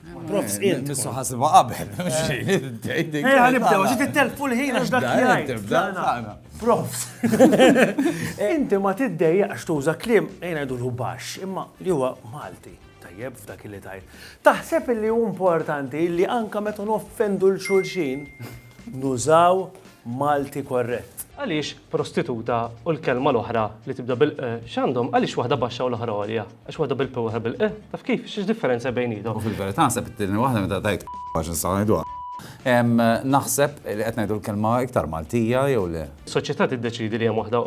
Prof, sqilt. Nissu ħasibha qabel. Ejja, nibdew, ġi tittelfu l-ħin għax dak jgħid. Profs. Inti ma tiddejjaqx tuża kliem ejna jdulu baxx, imma li huwa Malti. Tajjeb f'dak li tajt. Taħseb li hu importanti li anka meta noffendu l-xulxin nużaw Malti korrett. Għaliex prostituta u l-kelma l-oħra li tibda bil q x'għandhom, għaliex waħda baxxa u l-oħra għolja? Għax waħda bil-p u l-oħra bil-q? Taf kif? X'differenza hemm bejniethom? U fil-verità naħseb it-tieni waħda meta tgħid p għax nistgħu ngħiduha. Naħseb li qed ngħidu l-kelma iktar Maltija jew le? Soċjetà tiddeċiedi li hemm waħda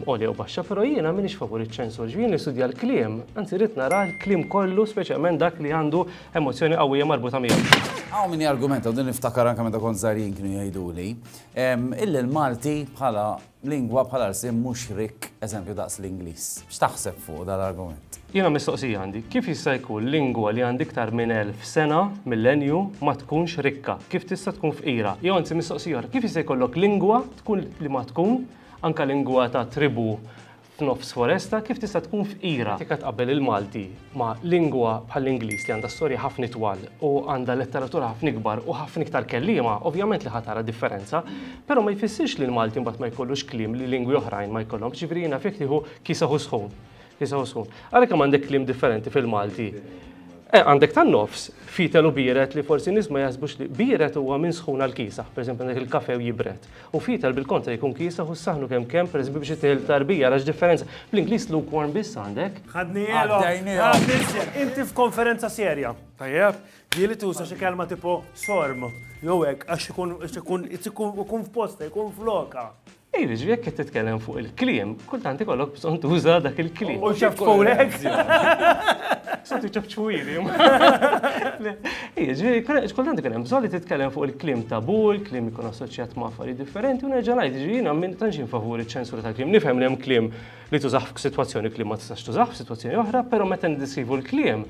għolja u baxxa, però jiena m'iniex favur iċ-ċensur. Jiġifieri jien nistudja l-kliem, anzi rrid nara l-kliem kollu speċjalment dak li għandu emozzjoni qawwija marbuta miegħu. Hawn min jargumenta, u din niftakar anke meta kont żgħir jien kienu jgħiduli, Illi l-Malti bħala lingwa, bħala lsien mhux rikk eżempju daqs l-Ingliż. X'taħseb fuq dan l-argument? Jiena mistoqsija għandi, kif jista' jkun lingwa li għandha iktar minn elf sena, millenju, ma tkunx rikka? Kif tista' tkun fqira? Jew anzi mistoqsija oħra, kif jista' jkollok lingwa tkun li ma tkun anke lingwa ta' tribù, f'nofs foresta kif tista' tkun fqira. Jekk qed tqabbel il-Malti ma' lingwa bħall-Ingliż li għandha storja ħafna itwal u għandha letteratura ħafna ikbar u ħafna iktar kelliema, ovvjament li ħa tara differenza. Però ma jfissirx li l-Malti mbagħad ma jkollux kliem li lingwi oħrajn ma jkollhomx. Jiġifieri jiena fih nieħu kiseh u sħun. Kiseh u sħun. Ara kemm għandek kliem differenti fil-Malti. Eh, għandek tan-nofs, fietel u biered li forsi nies ma jaħsbux li biered huwa minn sħun għal kiesaħ. Pereżempju għandek il-kafe u jibred. U fetal bil-kontra jkun kiesaħ u s-saħnu kemm kemm, per eżempju, biex ittieħed it-tarbija, ara x'differenza. Bl-Ingliż lukewarm biss għandek. Ħadnielhom! Għaddejnielhom! Inti f'konferenza serja. Tajjeb? Ġieli tuża xi kelma tipo sorm, jew hekk, għax ikun ikun ikun f'posta, ikun flokha. Ej, jiġri jekk qed titkellem fuq il-kliem, kultant ikollok bżonn tuża dak il-kliem. U ċafċfulek? Soti ċafċfuli. Jiġifieri kien hemm kultant ikun hemm bżonn li titkellem fuq il-kliem tabù, il-kliem li jkun assoċjat ma' affarijiet differenti u nerġa' ngħid, jiġifieri jiena minn tantx jien favur iċ-ċensura tal-kliem. Nifhem li hemm kliem li tużah f'sitwazzjoni u kliem ma tistax tużah f'sitwazzjoni oħra, però meta niddiskrivu l-kliem,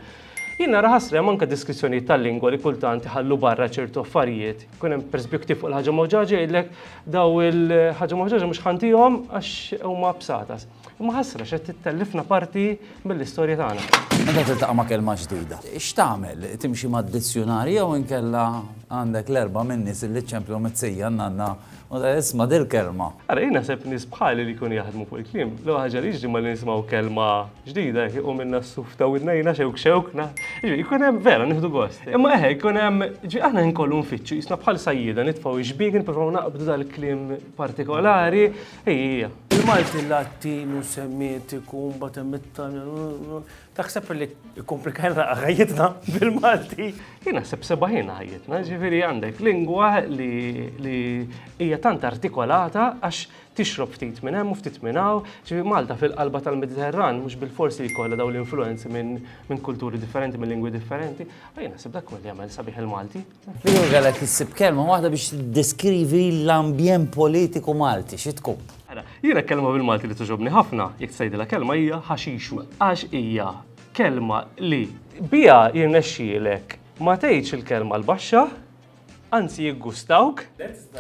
jien nara ħasra hemm anke deskrizzjonijiet tal-lingwa li kultant iħallu barra ċertu affarijiet. Ikun hemm pereżempju ktieb fuq il-ħaġa mawġaġa jgħidlek daw il-ħaġa mawġaġa mhux ħa ntihom għax huma bsatas. Imma ħasra x'qed tittellifna parti mill-istorja tagħna. Meta tiltaqa' ma' kelma ġdida, x'tagħmel? Timxi mad-dizzjunarji jew inkella għandek l-erbgħa minn nies illi ċċemplu mit-sija, n-nanna, u tgħid, Isma' dil-kelma! Ara, jien naħseb nies bħali li jkunu jaħdmu fuq il-kliem, l-ewwel ħaġa li jiġri malli nisimgħu kelma ġdida hekk iqumilna s-suf ta' widnejna xewk xewk, jiġifieri jkun hemm vera nieħdu gost. Imma eħe, jkun hemm, jiġifieri aħna ħin kollu nfittxu, qisna bħal sajjieda nitfgħu x-xbiekin nippruvaw naqbdu dal-kliem partikolari, Hi, hija. Il-Malti Latinu Semitiku mbagħad hemm it-Taljan. Taħseb li kkomplikajna ħajjitna bil-Malti? Jien naħseb sebaħina ħajjitna, ġifieri għandek lingwa li hija tant artikolata għax tixrob ftit minn hemm u ftit minn hawn, ġifieri Malta fil-qalba tal-Mediterran mhux bil-fors li jkollha dawn l-influenzi minn kulturi differenti, minn lingwi differenti. Jien naħseb dak li jagħmel sabiħ il-Malti. Fil-ewwel kellek issib kelma waħda biex tiddeskrivi l-ambjent politiku Malti, xi tkun? Ara, jiena kelma bil-Malti li togħġobni ħafna, jekk tgħidilha kelma hija ħaxixu, għax hija kelma li biha jirnexxielek ma tgħidx il-kelma l-baxxa, anzi jiggustawk.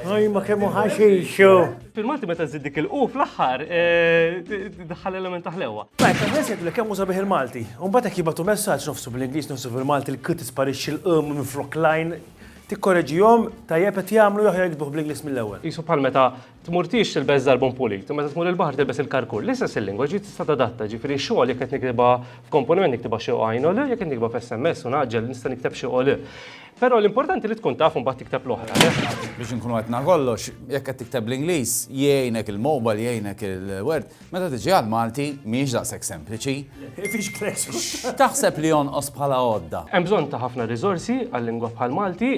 Oj, ma kemmu ħaxixu. Fil-Malti meta zid dik il-qu fl-aħħar eh, daħħal element ta' ħlewwa. Tajt, għan nesek li kemmu sabiħ il-Malti. Unbat jek jibatu messaċ nofsu bil-Inglis, nofsu bil-Malti, l-kut isparixxi l-qum minn flok lajn. Tikkoreġijom, tajjeb qed jagħmlu jaħjar jikduħ bl-Inglis mill-ewwel. Jisu bħal meta tmurtix tilbeż darbon pulit, meta tmur il-baħar tilbes il-karkur. L-istess il-lingwa ġi tista' tadatta, ġifieri xogħol jekk qed niktiba f'komponiment niktiba xi għajn u jekk qed niktiba f'SMS u naġġel nista' nikteb xi Però l-importanti li tkun taf u mbagħad tikteb l-oħra, le? Biex inkunu qed na kollox, jekk qed tikteb bl-Ingliż, jgħinek il-mobile, jgħinek il-word, meta tiġi għall-Malti mhijiex daqshekk sempliċi. Fiex klexu. X'taħseb li jonqos bħala għodda? Hemm bżonn ta' ħafna riżorsi għal-lingwa bħall-Malti.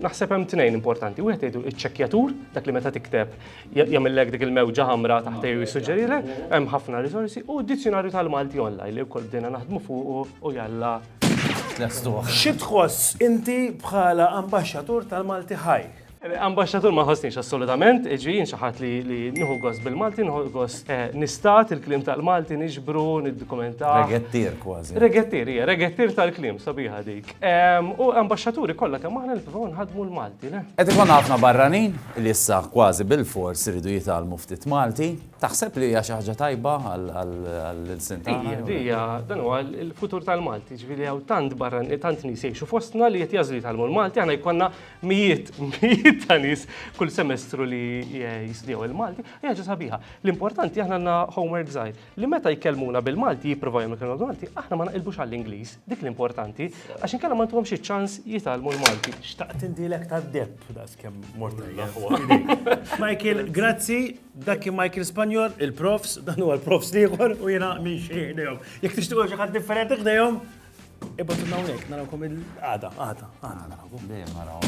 Naħseb hemm tnejn importanti. Wieħed jgħidu iċ-ċekkjatur, dak li meta tikteb jagħmillek dik il-mewġa ħamra taħtejn u jissuġġerilek. Hemm ħafna riżorsi u d-dizzjunarju tal-Malti online li wkoll bdejna naħdmu fuqu u jalla. Tlestuh. Xi tħoss inti bħala Ambaxxatur tal-Malti Ħaj? Ambaxxatur ma nħossniex assolutament, iġi jien xi ħadd li nieħu gost bil-Malti, nieħu gost eh, nistat il-kliem tal-Malti niġbru, niddokumenta. Regettier kważi. Regettier, hija, regettier tal-kliem sabiħa dik. U ambaxxaturi kollha kemm aħna nipprovaw nħadmu l-Malti, le? Qed ikun ħafna barranin li issa kważi bil-fors iridu jitgħallmu ftit Malti. Taħseb li hija xi ħaġa tajba għall-ilsien tagħna? Hija, di hija, dan huwa l-futur tal-Malti, ġifieri hawn tant barran, tant nies jgħixu fostna li qed jażlu jitgħallmu l-Malti, aħna jkollna mijiet, mijiet ta' nies kull semestru li jistudjaw il-Malti, hija ħaġa sabiħa. L-importanti aħna għandna homework żgħir li meta jkellmuna bil-Malti, jippruvaw jagħmlu kelma bil-Malti, aħna ma naqilbux għall-Ingliż, dik l-importanti, għax inkella ma ntuhomx iċ-ċans jitgħallmu l-Malti. Xtaqt indilek tad-deb, daqskemm mort tajjeb. Michael, grazzi. Dak kien Michael Spanior, il-profs, dan huwa l-profs l-ieħor u jiena minn xi ħdejhom. Jekk tixtiequ xi ħadd differenti ħdejhom, ibgħatu minn hawnhekk narawkom il-għada, għada, għada narawkom.